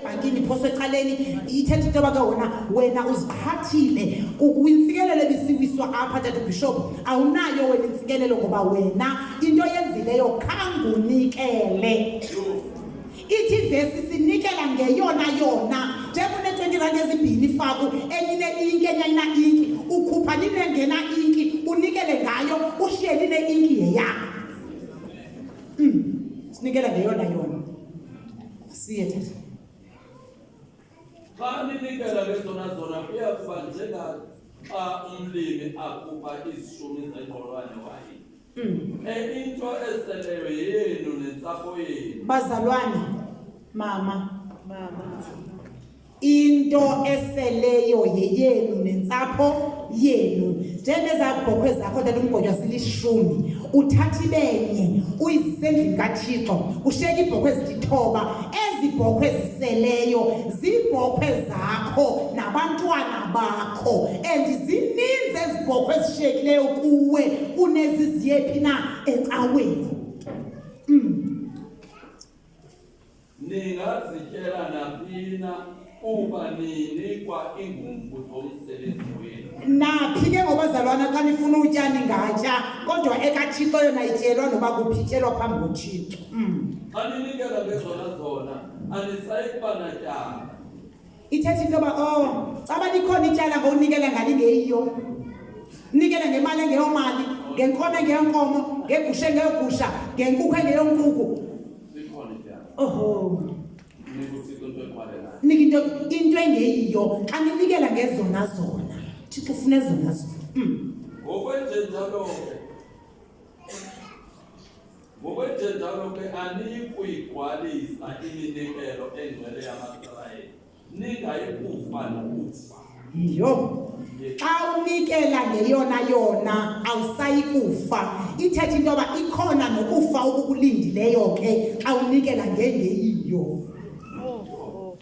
ibhankini phoso ecaleni ithetha into yoba ke wona wena uziqhathile kwintsikelelo ebisiwiswa apha tata ubhishophu awunayo wena intsikelelo ngoba wena into yenzileyo khangunikele ithi ivesi sinikela ngeyona yona njengunetwenty rand ezimbini faku enye ineinki enye ayina-inki ukhupha ninengena inki unikele ngayo ushiye line-inki yeyakho hmm. sinikela ngeyona yona Siyethe. Xa ninikela ngezona zona kuya kuba njenga xa umlimi akuba izishumi zengqolwane waye. Mm. Enye into eseleyo yenu nentsapho yenu. Bazalwane, mama. Mama. into eseleyo yeyenu nentsapho yenu njengezabhokhwe zakho tata umgonywa zilishumi uthatha ibenye uyizise endlini kathixo kusheka iibhokhwe ezitithoba ezi bhokhwe ziseleyo ziibhokhwe zakho nabantwana bakho and zininzi ezi bhokhwe ezishekileyo kuwe kuneziziyephi na ecaweni Ningazityela naphi na kuba ninikwa iingumbu zomsebenzi wenu. Naphi ke ngobazalwana xa nifuna utya ningatya kodwa ekaThixo yona ityelwa noba kuphi ityelwa phambi koThixo. Mm. Xa ninikela ngezona zona anisayi kuba natyala. ithetha into yoba o oh, caba likhona ityala ngowunikela ngani ngeyiyo nikela ngemali engeyomali ngenkomo engeyonkomo ngegusha engeyogusha ngenkukhu engeyonkukhu oho nika into into engeyiyo xa ninikela ngezona zona thixo ufuna ezona zona hmm. ngokwenjenjalo Ngokwenjenjalo ke aniyikuyigwalisa iminikelo engcwele yamaSirayeli, ningayikufa nokufa. Yho, xa unikela ngeyona yona awusayi kufa. Ithetha into yoba ikhona nokufa okukulindileyo ke xa unikela ngengeyiyo.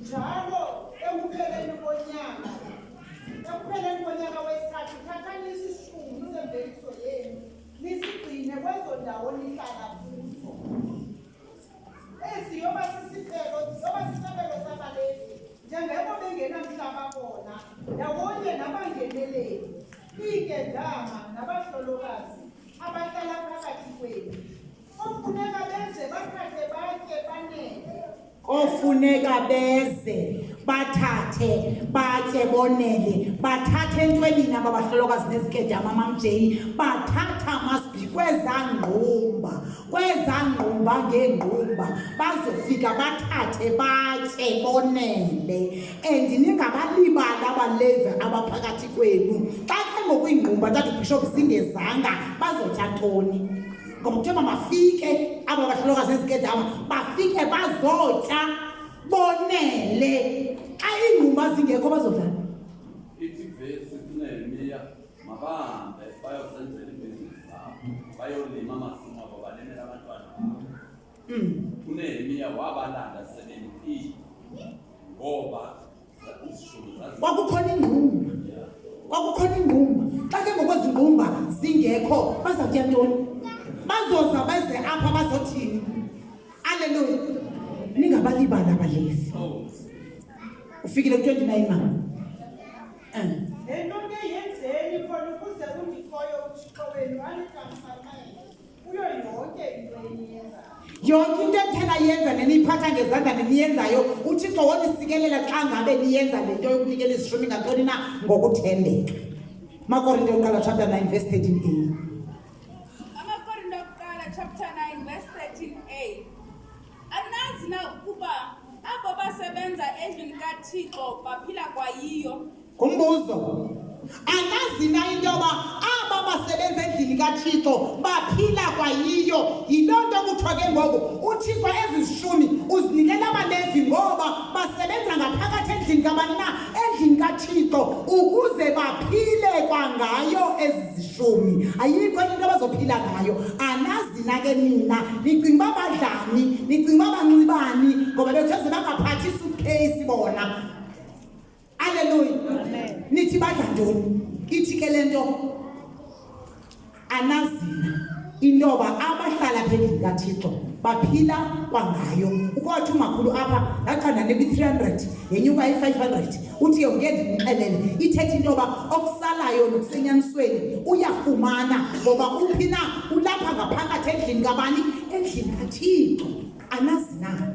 njalo ekupheleni konyaka ekupheleni konyaka wesithathu thathani isishumi semveliso yenu nisigcine kwezo ndawo nihlala kuzo ezi yoba sisicelo yoba sisabelo sabalezi njengeko bengenamhlaba bona ndawonye nabangeneleli iigedama nabahlolokazi abahlala phakathi kwenu Ofuneka beze bathathe batye banele. Ofuneka beze bathathe batye bonele bathathe entweni naba bahlolokazi nezikedama amamjeli bathatha amasbi kwezangqumba kwezangqumba ngeengqumba bazofika bathathe batye bonele and ningabalibali abalevi abaphakathi kwenu xa ke ngoku iingqumba tatubhishop zingezanga bazotya ntoni ngoba kuthiwa mabafike aba bahlolokazi ezikedama bafike bazotya bonele xa iingqumba zingekho bazodlala ithi vesi kunemiya mabahambe bayozenzela ibhizinisi zabo bayolima amasimo abo balimele abantwana kunemiya wabalanda sebemkile ngoba kwakukhona ingqumba kwakukhona ingqumba xa ke ngokwezi ngqumba zingekho baza kutya ntoni bazoza beze apha bazothini aleluya ningabalibali abalevi ufikile ku-twenty nine ma um yonke into ethena yenza neniyiphatha ngezandla neniyenzayo uthixo wonisikelela xa ngabe niyenza le nto yokunikela izishumi ngantoni na ngokuthembeka makorinte yokuqala chapter 9 verse 13 a anazi na ukuba abo basebenza endlini kathixo baphila kwayiyo Ngumbuzo, anazi na into yoba aba basebenza endlini kaThixo baphila kwayiyo? Yiloo nto kuthiwa ke ngoku uThixo ezi zishumi uzinikela abaLevi ngoba basebenza ngaphakathi endlini kabani na? Endlini kaThixo ukuze baphile kwangayo ezi zishumi. Ayikho enye into abazophila ngayo. Anazi na ke nina nicinga uba badlani? Nicinga uba banxibani? Ngoba bethu eze bangaphathi isuitcase bona. aleluya nithi badla ntoni ithi ke le nto anazina intoba abahlala phezu kathixo baphila kwangayo ukothi umakhulu apha ndaqanda nekwi-three hundred yenyuka i-five hundred uthi yonke ndimxelele ithetha into yoba okusalayo nokusenyanisweni uyafumana ngoba uphi na ulapha ngaphakathi endlini kabani endlini kathixo anazina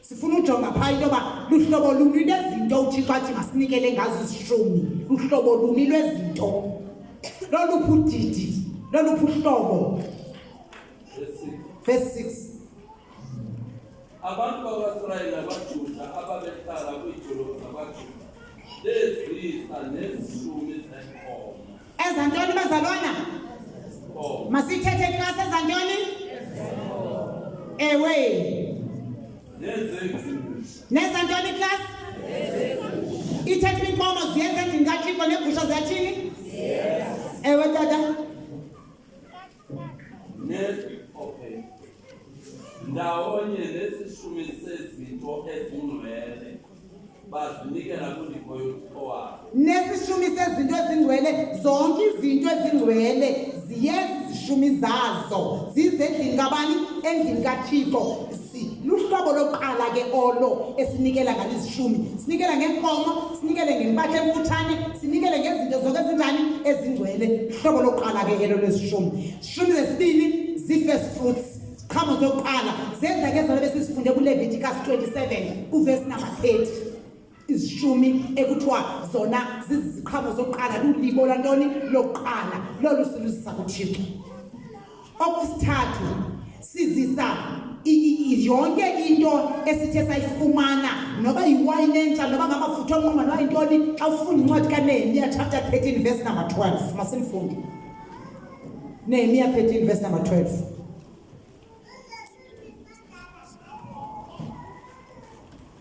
sifuna ujonga phaa into yoba luhlobo luni lwezinto uthixo athi masinikele ngazo izishumi luhlobo luni lwezinto loluphi udidi loluphi uhlobo verse 6 abantu bakwaSirayeli nabaJuda ababehlala kwiidolophu zakwaJuda bezisa nezishumi zenkomo Eza ntoni bazalwana? Masithethe class eza ntoni? Ewe. Neza ntoni class? Ithethe inkomo ziyenze ndingathiko negusha ziyathini? Ewe tata. Okay. Ndawonye nesishumi sezinto ezingcwele bazinikela kundiko yothixo wabo. Nesishumi sezinto ezingcwele zonke izinto ezingcwele ziyeza izishumi zazo zizendlini kabani endlini kathixo luhlobo lokuqala ke olo esinikela ngalo izishumi sinikela ngeenkomo sinikele ngempahla emfutshane sinikele ngezinto zonke ezinjani ezingcwele hlobo lokuqala ke elo lwezishumi shumi zesibini zii-first fruits ziqhamo zokuqala zenzeke zona besisifunde kulevitikas 27 uvesi number 30 izishumi ekuthiwa zona ziziqhamo zokuqala lulibo lwantoni lokuqala lolu siluzisa kuthixo okwesithathu sizisa yonke into esithe sayifumana noba yiwayini entsha noba ngamafutha onquma noba yintoni xa ufunda incwadi kanehemiya chapter 13 verse number 12 masimfunde nehemiya 13 verse number 12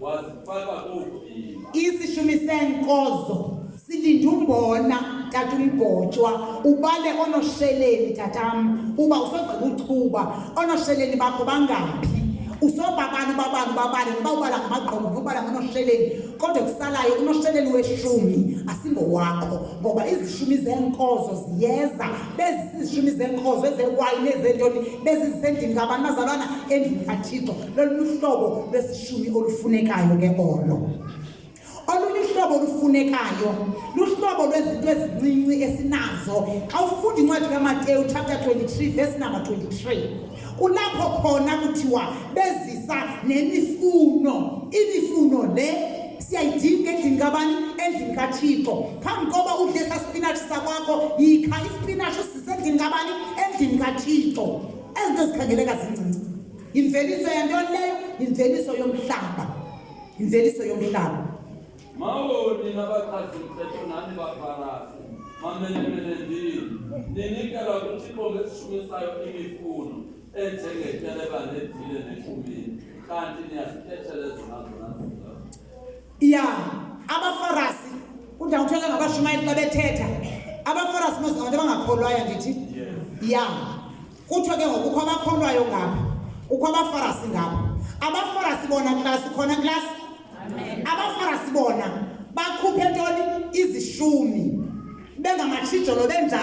wazifaka koovimba isishumi seenkozo silinde umbona tata umgotshwa ubale onosheleni tatam uba usogqiba uchuba onosheleni bakho bangaphi usobabani babani babani noba ubala ngamagqomo nobala ngonosheleni kodwa kusalayo unosheleni weshumi asingowakho ngoba izishumi zeenkozo ziyeza bezizishumi zeenkozo ezewayini ezentoni bezizisendini ngabantu bazalwana endlini kathixo loluhlobo lwesishumi olufunekayo ke olo olunye uhlobo olufunekayo luhlobo lwezinto ezincinci esinazo xa ufunda incwadi kamateyu chapter 23 verse number 23 kulapho khona kuthiwa bezisa nemifuno imifuno le siyayidinga endlini kabani endlini kathixo phambi koba udle sasipinatshi sakwakho yikha isipinatshi usisendlini kabani endlini kathixo ezinto zikhangeleka zincinci Imveliso yantoni leyo? Imveliso yomhlaba. Imveliso yomhlaba. Mawoni nabachazi mthetho nani bafarasi. Mamenemene ndini. Ninikela kuThixo ngesishumisayo imifuno enjengetyeleba nedile nekumini. Kanti niyazikhetshele zona zona zona. Ya, abafarasi udawuthola ngabashumayeli xa bethetha. Abafarasi mos abantu abangakholwayo ndithi. Ya. Yeah. kuthiwe ke ngoku kukho abakholwayo ngabo kukho abafarasi ngabo abafarasi bona klasi khona klasi abafarasi bona bakhuphe ntoni izishumi bengamatshijolo benjalo